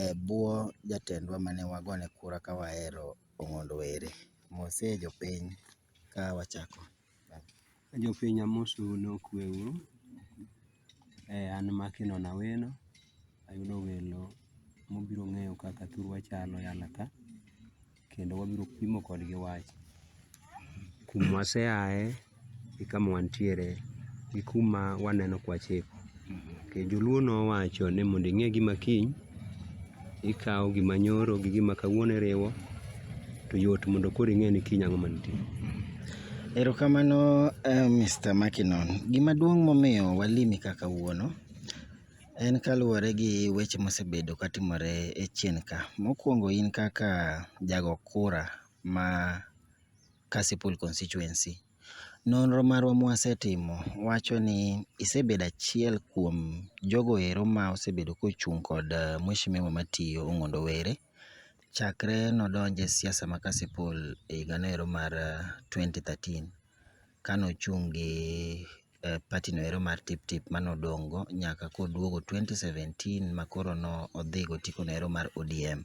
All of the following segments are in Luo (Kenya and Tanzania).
e bwo jatendwa mane wagone kura ka wahero Ong'ondo Were. Mose jopiny ka wachako. Jopiny amosou ni okwe uru. An Makinon Awino, ayudo welo mobiro ng'eyo kaka thurwa chalo e alaka. kendo wabiro pimo kodgi wach kuma waseaye gi kama wantiere gi kuma waneno kwachiko. Okay, joluo nowacho ni mondo ing'e gima kiny ikawo gima nyoro gi gima kawuono iriwo to yot mondo koro ing'e ni kiny ang'o mantie. Erokamano uh, eh, Mr. Makinon. Gima duong' momiyo walimi kaka wuono En kaluwore gi weche mosebedo katimore e chien ka. Mokwongo in kaka jago kura ma Kasipul Constituency, nonro marwa mwasetimo wacho ni isebedo achiel kuom jogo ero ma osebedo kochung' kod mweshimiwa matiyo Ong'ondo Were chakre nodonje siasa ma Kasipul e higa noero mar twenty thirteen. kane ochung' gi party no ero mar Tip Tip mane odong' go nyaka koduogo 2017 makoro ne odhi go otiko no ero mar ODM.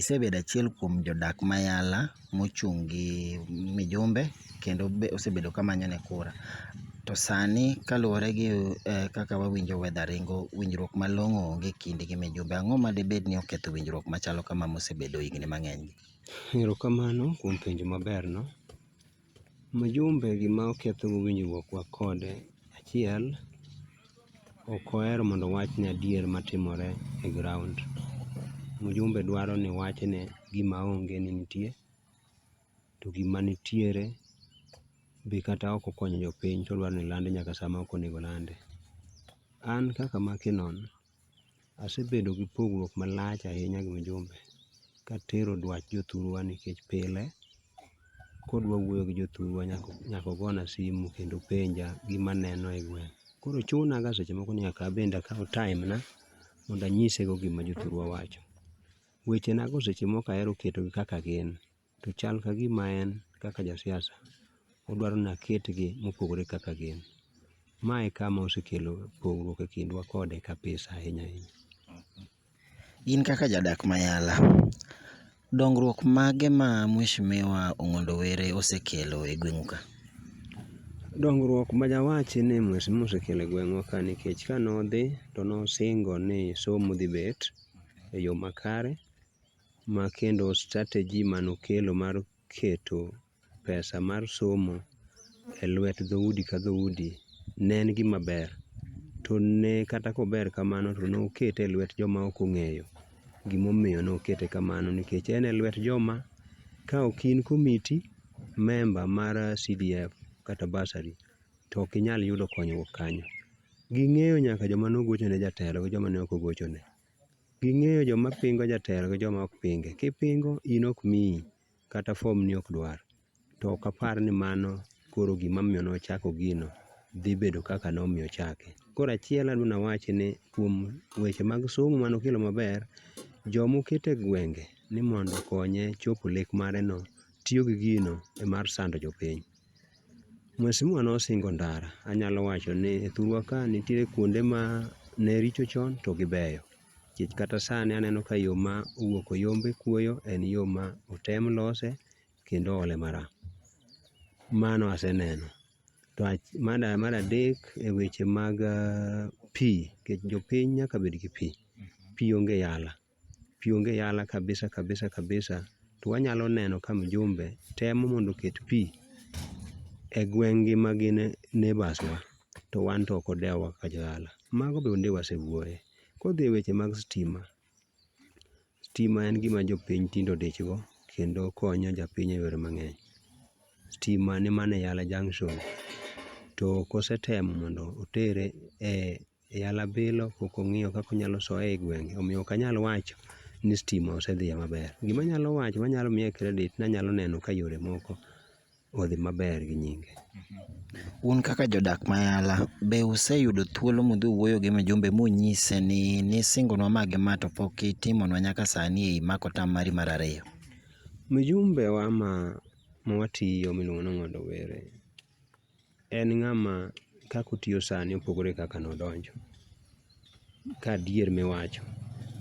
Isebedo achiel kuom jodak ma Yala mochung' gi mijumbe kendo be osebedo ka manyo ne kura. To sani kaluwore gi kaka wawinjo weather ringo, winjruok malong'o onge e kindi gi mijumbe. Ang'o ma dibed ni oketho winjruok machalo kama mosebedo higni mang'eny gi? Erokamano kuom penjo maber no. Mjumbe gima oketho go winjruok wa kode, achiel ok ohero mondo owachne adier matimore e ground. Mjumbe dwaro ni wachne gima onge ni nitie, to gima nitiere be kata ok okonyo jopiny to odwaro ni lande nyaka sama ok onego olande. An kaka Makeno, Asebedo gi pogruok malach ahinya gi Mjumbe katero dwach jothurwa nikech pile kodwa wuoyo gi jothurwa nyaka ogona simu kendo openja gima neno e gweng'. Koro chuna ga seche moko ni nyaka an bende akaw time na mondo anyise go gima jothurwa wacho. Weche na go seche moko ahero keto gi kaka gin. to chal ka gima en kaka ja siasa odwaro ni aketgi mopogore kaka gin. Ma e kama osekelo pogruok e kindwa kode kabisa ahinya ahinya. In kaka jadak ma yala, dongruok mage ma mheshimiwa Ong'ondo Were osekelo e gweng'u ka? Dongruok ma dawachi ni mheshimiwa osekelo e gweng'wa ka nikech kane odhi to nosingo ni somo dhi bet e yo makare. ma kendo strategy ma nokelo mar keto pesa mar somo e lwet dho udi ka dho udi ne en gima ber. To ne kata kober kamano to nokete e lwet joma ok ong'eyo gimomiyo nokete kamano nikech en e lwet joma ka ok in komiti member mar CDF kata bursary to ok inyal yudo konyruok kanyo. Ging'eyo nyaka joma nogochone jatelo gi joma ne ok ogochone. Ging'eyo joma pingo jatelo gi joma ok pinge. Kipingo in ok miyi kata fom ni ok dwar. To ok apar ni mano koro gima omiyo ne ochako gino dhi bedo kaka ne omiyo ochake. Koro achiel adwa ni awachi ni kuom weche mag somo mane okelo maber, joma oketo e gwenge ni mondo okonye chopo lek mare no tiyo gi gino e mar sando jopiny. Mheshimiwa nosingo ndara, anyalo wacho ni e thurwa ka nitiere kuonde ma ne richo chon to gibeyo. Nikech kata sani aneno ka yo ma owuok Oyombe kuoyo en yo ma otem lose kendo oole maram. Mano aseneno. To mar adek e weche mag pi, nikech jopiny nyaka bed gi pi. Pi onge yala. pi onge yala kabisa kabisa kabisa to wanyalo neno ka mjumbe temo mondo oket pi e gweng' gi ma gin neighbours wa to wan to ok odew wa kaka jo dala. Mago be onge wasewuoye. Kodhi e weche mag stima, stima en gima jopiny tinde odich go kendo konyo japiny e yore mang'eny. Stima ni mana e yala junction to ok osetemo mondo otere e Yala bilo pok ong'iyo kaka onyalo soye e gwenge omiyo ok anyal wacho ni stima osedhiye maber. Gima anyalo wacho manyalo miye credit ni anyalo neno ka yore moko odhi maber gi nyinge. Un kaka jodak ma Yala, be useyudo thuolo mudhi uwuoyo gi mjumbe munyise ni nisingonwa ma gi ma to pok itimonwa nyaka sani e imako tam mari mar ariyo? Mjumbe wa ma mwatiyo miluongo ni Ong'ondo Were, En ng'ama kaka otiyo sani opogore gi kaka nodonjo, ka adier miwacho.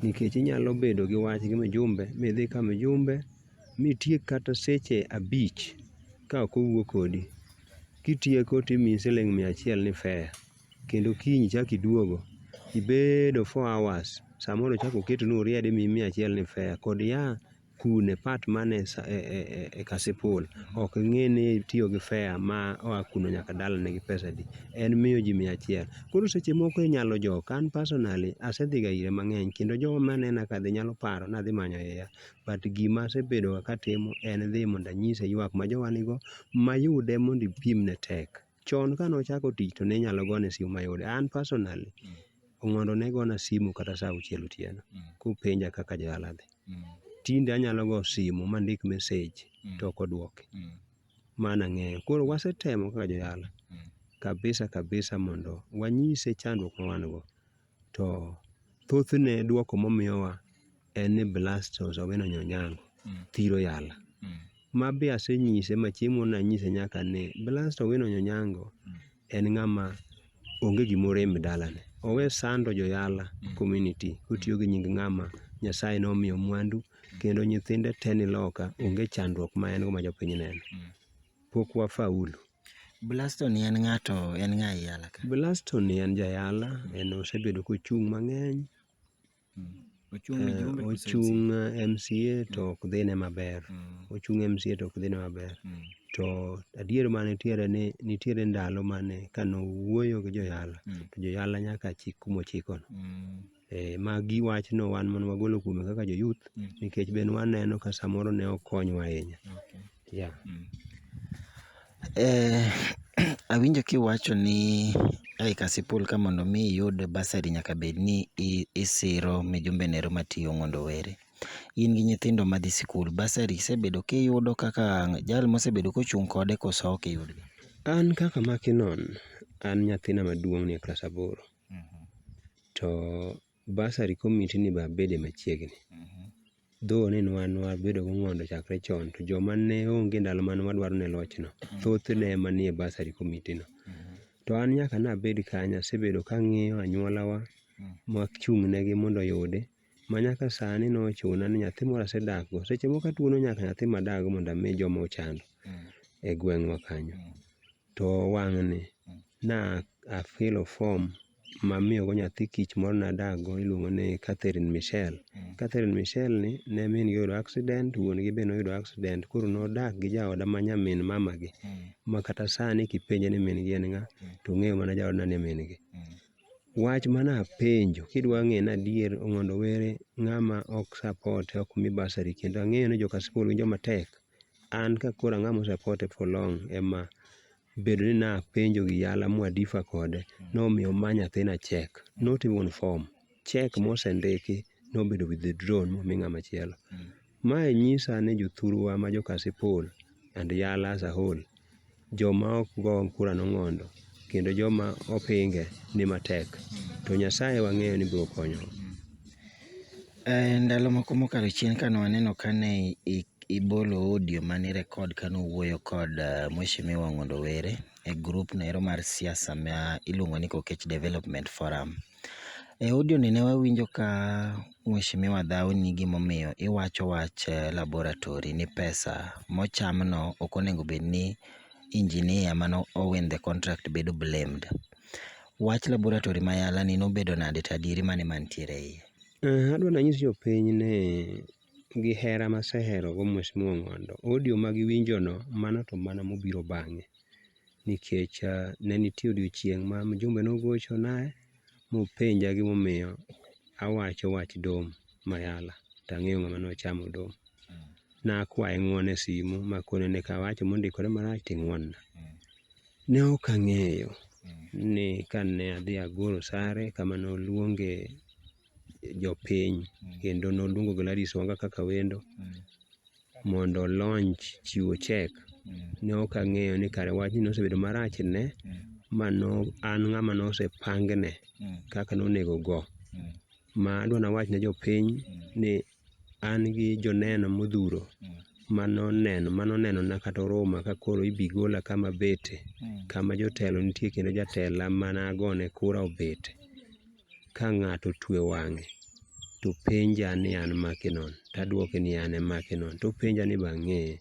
Nikech inyalo bedo gi wach gi mjumbe midhi ka mjumbe mitiek kata seche abich ka ok owuo kodi. Kitieko to imiyi siling' mia achiel ni fare kendo kiny ichak iduogo ibedo four hours samoro ochak oketoni uriade imiyi mia achiel ni fare kod yawa. kune part man e, e, e, e kasipul ok ng'e ni tiyo gi fea ma oa kuno nyaka dalane gi pesa di en miyo ji mia achiel koro seche moko inyalo jok an personally asedhiga ire mang'eny kendo jogo manena kadhi nyalo paro nadhi manyo iya but gima asebedoga katimo en dhi mondo anyise ywak ma jowa nigo mayude mondo ipimne tek chon kane ochako tich to ne inyalo gone simu mayude. An personally, Ong'ondo ne gona simu kata saa auchiel otieno kopenja kaka jodala dhi. Tinde anyalo go simu mandik message to ok oduoki. Mano ang'eyo. Koro wasetemo kaka jodala kabisa kabisa mondo wanyise chandruok ma wan go. To thothne duoko momiyowa en ni blasters ogeno nyonyango thiro yala. Ma be asenyise ma chieng'moro nanyise nyaka ni blaster ogeno nyonyango en ng'ama onge gima orem e dalane. Owe sando jo yala community kotiyo gi nying ng'ama Nyasaye nomiyo mwandu kendo nyithinde te ni loka onge chandruok ma en go ma jopiny neno. pok wafaulu. Blasto ni en ng'ato en ng'a yala ka? Blasto ni en jayala, en osebedo kochung' mang'eny. Hmm. Ochung' eh, ochung' MCA to hmm. ok dhine maber. Hmm. Ochung' MCA to ok dhine maber. To adier ma nitiere ni nitiere ndalo mane kano wuoyo gi joyala to joyala nyaka chik kumochikono. Eh, magi wachno wan mondo wagolo kuome kaka jo youth mm. nikech ben waneno ka samoro ne okonywa ahinya yeah. mm. eh, awinjo kiwacho ni ai kasipul ka mondo mi iyud basari nyaka bed ni isiro mijumbe nero matiyo mondo were in gi nyithindo madhi sikul basari isebedo kiyudo kaka jal mosebedo kochung' kode koso ok iyudgi an kaka makinon an nyathina maduong' nie klas aboro To bursary committee ni be abede machiegni. Though ni nwa nwa bedo go ng'ondo chakre chon to joma ne onge ndalo mane wadwaro ne loch no thoth ne ema nie bursary committee no. To an nyaka nabed kanyo asebedo kang'iyo anyuola wa machung' ne gi mondo oyudi ma nyaka sani nochuna ni nyathi moro asedak go. Seche moko atuono nyaka nyathi madak go mondo ami joma ochando e gweng'wa kanyo. To wang'ni na a fill form mamiyogo nyathi kich moro nadak go iluongo ni Catherine Michelle. Catherine Michelle ni ne min gi oyudo accident, wuon gi be noyudo accident koro nodak gi jaoda ma nyamin mama gi. Ma kata sani kipenje ni min gi en ng'a, to ong'eyo mana jaodna ni min gi. Wach mana penjo kidwa ng'e ni adier Ong'ondo Were ng'ama ok support e ok mi bursary kendo ang'eyo ni joka skul winjo matek. An ka koro ang'ama ose kote for long ema bedo ni napenjo gi yala ma wadifa kode nomiyo oma nyathina cheque not even form, cheque mosendiki nobedo withdrawn momi ng'ama chielo. Mae nyisa ni jothurwa ma jo Kasipul and yala as a whole Joma ok go kura nong'ondo, kendo joma opinge ni matek. To Nyasaye wang'eyo ni biro konyowa. Eh, ndalo moko mokalo chien kane waneno kane ibolo audio mane record kane owuoyo kod uh, Mheshimiwa Ng'ondo Were e group no ero mar siasa ma iluongo ni Kokech Development Forum. E audio ni ne wawinjo ka mheshimiwa dhaw ni gimomiyo iwacho wach laboratory ni pesa mocham no ok onego bed ni engineer mane o win the contract bedo blamed. Wach laboratory ma yala ni nobedo nade to adieri mane mantiere e iye? Eeh, adwa nanyis jopiny ni gi hera maseherogo mheshimiwa Ong'ondo, audio ma giwinjono mano to mana mobiro bang'e. nikech ne nitie odiochieng' ma mjumbe nogochona mopenja gimomiyo awacho wach dom mayala to ang'eyo ng'ama nochamo dom. Nakwaye ng'uono e simu makone ni kawacho mondikore marach to ing'uonna. Ne ok ang'eyo ni kane adhi agolo sare kama noluonge jopiny kendo noluongo Gladys Wanga kaka wendo mondo o launch chiwo check. Ne ok ang'eyo ni kare wachni nosebedo marach ne ma no an ng'ama nosepangne kaka nonego ogo. Ma adwa nawach ne jopiny ni an gi joneno modhuro mano neno mano neno na kata oruma ka koro ibi gola kama abete kama jotelo nitie kendo jatela mana gone kura obet ka ng'ato otwe wang'e to penja ni an makinon tadwoke ni an e makinon topenja ni be ang'eye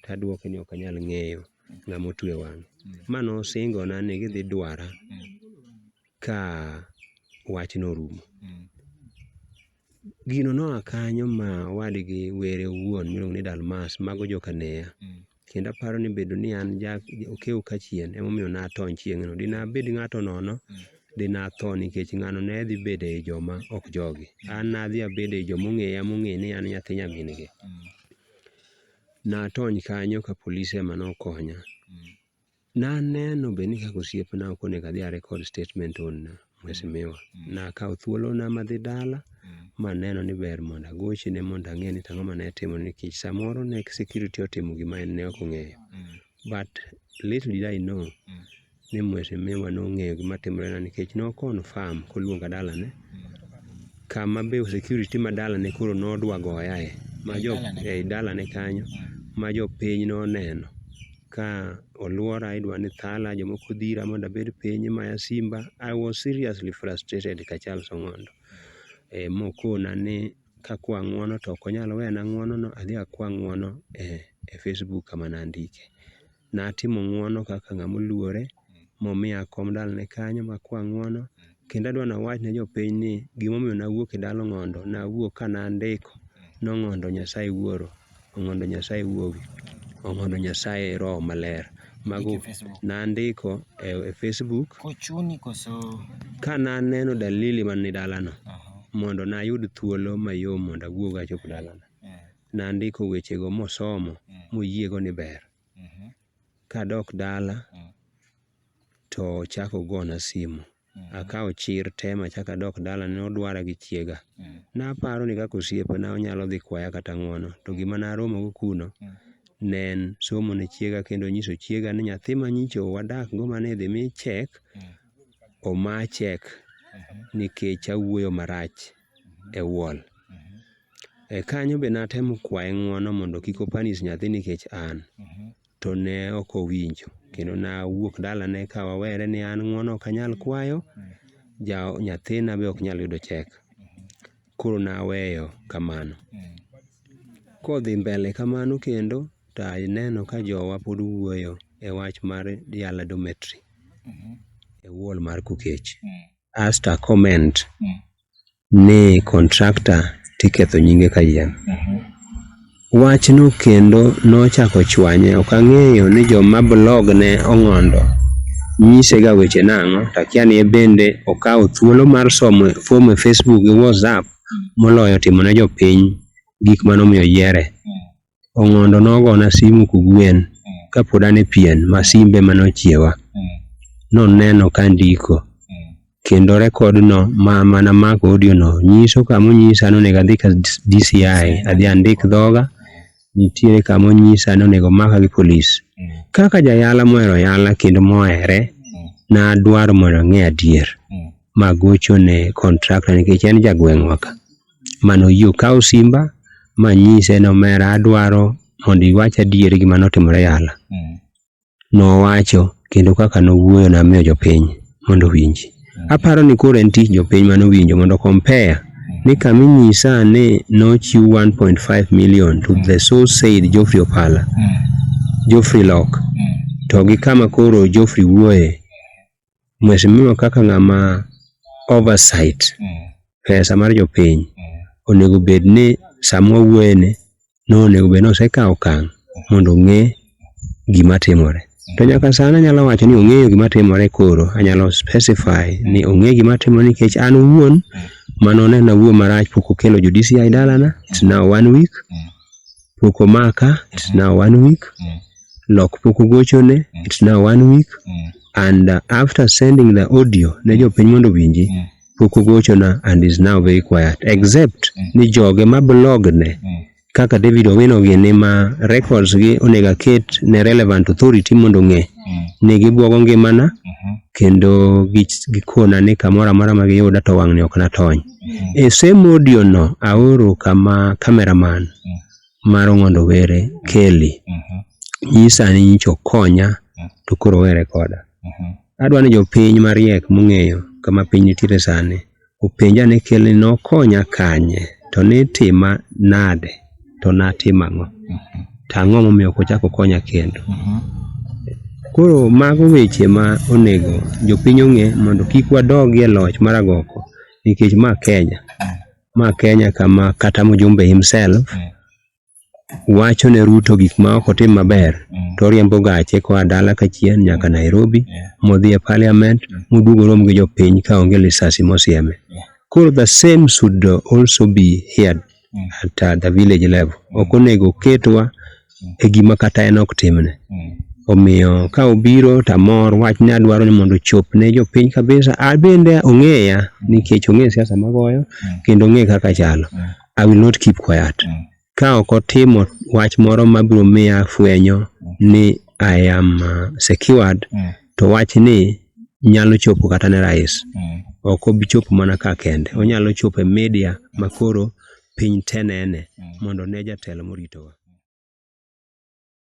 tadwoke ni ok anyal ng'eyo ng'ama otwe wang'e ma nosingo na ni gidhi dwara ka wachno orumo. Gino noa kanyo ma wadgi were owuon miluongo ni Dalmas mago joka Neya. Kendo aparo ni bedo ni an ja okew kachien emomiyo natony chieng'no. Dinabed ng'ato nono, dinatho nikech ng'ano ne dhi bedo ei joma ok jogi. An nadhi abedo ei joma ong'eya mong'e ni an nyathi nyamin gi. Natony kanyo ka polis ema nokonya. Naneno bende ni kaka osiepna ok onego adhi arekod statement onna mheshimiwa. Mm. Nakawo thuolona madhi dala mm. maneno ni ber mondo agochne mondo ang'e ni tang'o mane atimo nikech samoro ne security otimo gima en ne ok ong'eyo. Mm. But little did I know ni mheshimiwa nong'eyo gima timorena nikech no confirm koluonga dalane kama be security ma dalane koro nodwa goyae ma jo e dalane kanyo ma jopiny noneno ka oluora idwa ni thala, jomoko dhira mondo abed piny imaya simba. I was seriously frustrated ka Charles Ong'ondo mokona ni kakwa ng'uono to ok onyal wena ng'uono no adhi akwa ng'uono e Facebook kama nandike. Natimo ng'uono kaka ng'ama oluore momiya kom dalane kanyo ma kwa ng'uono. Kendo adwa ni awach ne jopiny ni gima omiyo ne awuok e dala Ong'ondo, ne awuok ka ne andiko ni Ong'ondo Nyasaye Wuoro, Ong'ondo Nyasaye Wuowi, Ong'ondo Nyasaye Roho Maler. Mago ne andiko e Facebook. Ka ne aneno dalili man e dalano, mondo ne ayud thuolo mayom mondo awuog achop dalana, ne andiko wechego mosomo moyiego ni ber. Kadok dala to ochako ogona simu. Akawo chir te machako adok dala ne odwara gi chiega. Naparo ni kaka osiepna onyalo dhi kwaya kata ng'uono to gima naromogo kuno ne en somo ne chiega kendo nyiso chiega ni nyathi ma nyicho wadak go mane idhi mi chek, oma chek nikech awuoyo marach. e wall. E kanyo be natemo kwaye ng'wono mondo kik opanis nyathi nikech an. To ne ok owinjo. Kendo nawuok dalane ka wawere ni an ng'wono ok anyal kwayo, ja nyathina be ok nyal yudo chek. Koro naweyo kamano. Kodhi mbele kamano kendo, to aneno ka jowa pod wuoyo e wach mar yala dormitory e wall mar Kokech. asked a comment ni contractor tiketho nyinge kayiem. Wachno kendo nochako chwanye, ok ang'eyo ni joma blog ne ong'ondo nyisega weche nang'o, to akia ni ebende okawo thuolo mar somo fomo e Facebook gi WhatsApp moloyo timo ne jopiny gik mane omiyo oyiere. Ong'ondo nogona simu kogwen kapod an e pien ma simbe mane ochiewa. Noneno ka andiko kendo rekod no ma mana mako audio no nyiso kama onyisa ni onego adhi ka DCI adhi andik dhoga nitiere kama onyisa ni onego omaka gi polis. Kaka jayala mohero yala kendo mohere nadwaro mondo ang'e adier magochone contractor nikech en jagweng'wa ka. mane oyie okaw simba manyise ni omera adwaro mondo iwach adier gima notimore yala. Nowacho kendo kaka nowuoyo namiyo jopiny mondo owinji. Aparo ni koro en tich jopiny mane owinjo mondo compare ni kama inyisa ni nochiw 1.5 million to the so said Geoffrey Opala, Geoffrey Lok to gi kama koro Geoffrey wuoye mheshimiwa kaka ng'ama oversight mm. pesa mar jopiny mm. onego bed ni sama wawuoyene no onego bed ni osekawo okang' mondo ong'e gima timore to nyaka sani anyalo wacho ni ong'eyo gima timore koro anyalo specify ni ong'e gima timore nikech an owuon mano ne nawuo marach pok okelo jo DCI dalana it's now one week mm. pok omaka, it's now one week. Mm. Lok pok ogochone, mm. it's now one week. Mm. And uh, after sending the audio ne mm. jopiny mondo winji, mm. pok ogochona and is now very quiet. Except mm. ni joge ma blog ne, mm. kaka David Owino gi ni ma records gi onega ket ne relevant authority mondo ng'e. Mm. Ne gibwogo ngimana, mm -hmm. kendo gikona ni kamora mora ma giyuda to wang'ni ok natony. E same audio no aoro kama camera man mar Ong'ondo Were, Kelly, nyisa ni nyicha okonya to koro owe rekoda. Adwa ni jopiny mariek mong'eyo kama piny nitiere sani openja ni Kelly nokonya kanye to nitima nade? to natimo ang'o to ang'o momiyo ok ochak okonya kendo koro mago weche ma onego jopiny ong'e mondo kik wadogi e loch mar agoko nikech ma Kenya ma Kenya kama kata mjumbe himself wacho ne Ruto gik ma ok otim maber to oriembo gache koa dala kachien nyaka Nairobi modhi e parliament moduog orom gi jopiny ka onge lisasi mosieme koro the same should also be heard at uh, the village level ok onego ketwa e gima kata en ok timne omiyo ka obiro to amor wach ni adwaro ni mondo ochop ne jopiny kabisa abende ong'eya nikech ong'e siasa magoyo kendo ong'e kaka chalo i will not keep quiet ka ok otimo wach moro mabiro miya fwenyo ni i am uh, secured to wachni nyalo chopo kata ne rais mm. ok obi chopo mana ka kende onyalo chopo e media makoro piny te nene mm. mondo ne jatelo moritowa